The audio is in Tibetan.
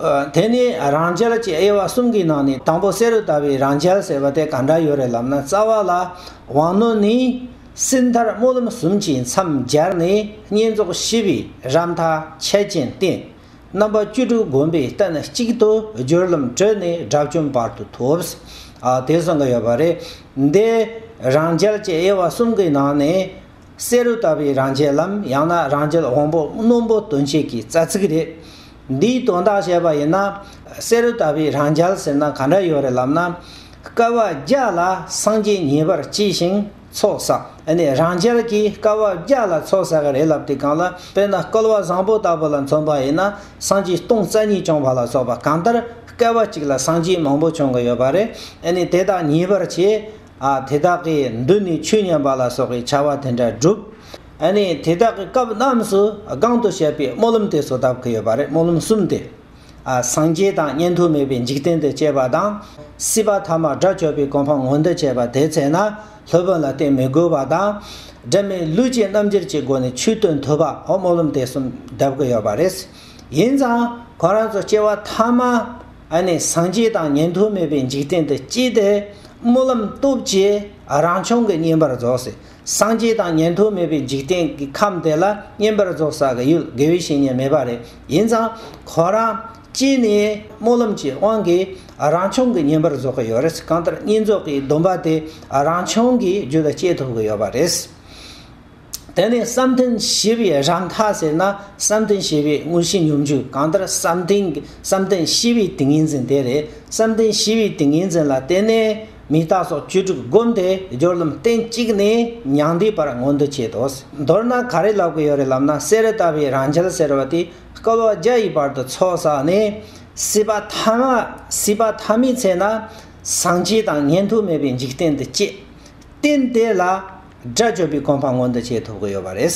དེ་ནི་རང་རྒྱལ་གྱི་དབྱེ་བ་གསུམ་གྱི་ནང་ནས་དང་པོ་བསེ་རུ་དཱ་བའི་རང་རྒྱལ་ཟེར་བ་དེ་ག་འདྲ་ཡོད་རེད་ལབ་ན་རྩ་བ་ལ་དབང་རྣོན་ནི་སྲིད་མཐར་སྨོན་ལམ་གསུམ་གྱིས་མཚམས་སྦྱར་ནས་བསྙེན་རྫོགས་ཞི་བའི་རབ་མཐའ་ཆད་ཅན་བསྟེན། རྣམ་པ་བཅུ་དྲུག་བསྒོམ་པའི་སྟན་གཅིག་ཏུ་སྦྱོར་ལམ་བྲོས་ནས་དགྲ་བཅོམ་བར་དུ་ཐོབས། དེ་གསུང་གི་ཡོད་པ་རེད། འདི་རང་རྒྱལ་གྱི་དབྱེ་བ་གསུམ་གྱི་ནང་ནས་བསེ་རུ་དཱ་བའི་རང་རྒྱལ་ལམ་ཡང་ན་རང་རྒྱལ་དབང་པོ་རྣོན་པོ་སྟོན་བྱེད་ཀྱི་རྩ་ཚིག་རེད། འདིའི་དོན་དག་བཤད་པ་ཡིན་ན། བསེ་རུ་ལྟ་བུའི་རང་རྒྱལ་ཟེར་ན་ག་འདྲ་ཡོད་རེད་ལབ་ན། སྐལ་བ་བརྒྱ་ལ་སངས་རྒྱས་ངེས་པར་སྐྱེས་ཤིང་ཚོགས་བསགས་ནས་རང་རྒྱལ་གྱིས་སྐལ་བ་བརྒྱ་ལ་ཚོགས་བསགས་རེད་ལབ་དེ་གང་ལ་དཔེར་ན་སྐལ་བ་བཟང་པོ་ལྟ་བུ་ལ་མཚོན་པ་ཡིན་ན་སངས་རྒྱས་སྟོང་རྩ་གཉིས་བྱུང་བ་ལ་སོགས་པ་གང་ལྟར་སྐལ་བ་གཅིག་ལ་སངས་རྒྱས་མང་པོ་བྱུང་གི་ཡོད་པ་རེད་དེ་དག་ངེས་པར་བྱས་དེ་དག་གི་མདུན་ནས་ཆོས་ཉན་པ་ལ་སོགས་ཀྱི་བྱ་བ་དེ་འདྲ་བསྒྲུབ། དེ་དག་གི་སྐབས་རྣམས་སུ་སྒང་དུ་བཤད་པའི་སྨོན་ལམ་དེ་བཟོ་ཐབས་ཀྱི་ཡོད་པ་རེད་སྨོན་ལམ་གསུམ་སྟེ། སངས་རྒྱས་དང་ཉན་ཐོས་མེད་པའི་འཇིག་རྟེན་དུ་སྐྱེས་པ་དང། སྲིད་པ་ཐ་མར་དགྲ་བཅོམ་པའི་གོ་འཕང་ངོ་འདོད་བྱེད་པ་དེའི་ཚེ་ན་སློབ་དཔོན་ལ་བསྟེན་མི་དགོས་པ་དང། སྒྲིབ་མེད་ལུས་ཀྱི་རྣམ་འགྱུར་གྱི་སྒོ་ནས་ཆོས་སྟོན་ཐུབ་པའོ་སྨོན་ལམ་དེ་གསུམ་གདབ་ཀྱི་ཡོད་པ་རེད། ཡིན་ཙང་ཁོ་རང་ཚོ་སྐྱེ་བ་ཐ་མ་ཨ་ནི་སངས་རྒྱས་དང་ཉན་ཐོས་མེད་པའི་འཇིག་རྟེན་དུ་སྐྱེས་ཏེ། སྨོན་ལམ་སྟོབས་ཀྱིས་རང་བྱུང་གི་བསྙེན་པར་རྫོགས། སངས་རྒྱས་དང་ཉན་ཐོས་མེད་པའི་འཇིག་རྟེན་གྱི་ཁམས་དེ་ལ་བསྙེན་པར་རྫོགས་ས་ག་ཡུལ་དགེ་བའི་བཤེས་གཉེན་མེད་པ་རེད་ཡིན་ཙང། ཁོ་རང་སྐྱེས་ནས་སྨོན་ལམ་གྱི་དབང་གིས་རང་བྱུང་གི་བསྙེན་པར་རྫོགས་ཀྱི་ཡོད་རེད། གང་ལྟར་བསྙེན་རྫོགས་ཀྱི་སྡོམ་པ་དེ་རང་བྱུང་གི་རྒྱུད་ལ་སྐྱེས་ཐུབ་ཀྱི་ཡོད་པ་རེད། དེ་ནས་བསམ་གཏན་བྱེད་པའི་རང་མཐའ་ཟེར་ན་བསམ་གཏན་བྱེད་པའི་དངོས་གཞི་སྙོམས་འཇུག་གང་ལྟར་བསམ་གཏན་གྱི་བསམ་གཏན་བྱེད་པའི་ཏིང་ངེ་འཛིན་དེ་རེད་བསམ་གཏན་བྱེད་པའི་ཏིང་ངེ་འཛིན་ལ་བརྟེན་ནས་མི་རྟག་སོགས་བཅུ་དྲུག་བསྒོམ་སྟེ་སྦྱོར་ལམ་སྟན་གཅིག་ནས་མྱང་འདས་བར་མངོན་དུ་བྱེད་དོ། མདོར་ན་ག་རེ་ལབ་ཀྱི་ཡོད་རེད་ལབ་ན་གསེར་རེ་བཏབ་པའི་རང་འགྱེལ་ཟེར་བ་དེ་སྐལ་བ་བརྒྱ་ཡི་བར་དུ་ཚོགས་བསགས་ནས་སྲིད་པ་མཐའ་མ་སྲིད་པ་མཐའ་མའི་ཚེ་ན་སངས་རྒྱས་དང་ཉན་ཐོས་མེད་པའི་འཇིག་རྟེན་དུ་སྐྱེས། རྟེན་དེ་ལ་སྒྲ་བརྗོད་པའི་གོམས་པ་མངོན་དུ་བྱེད་ཐུབ་ཀྱི་ཡོད་པ་རེད།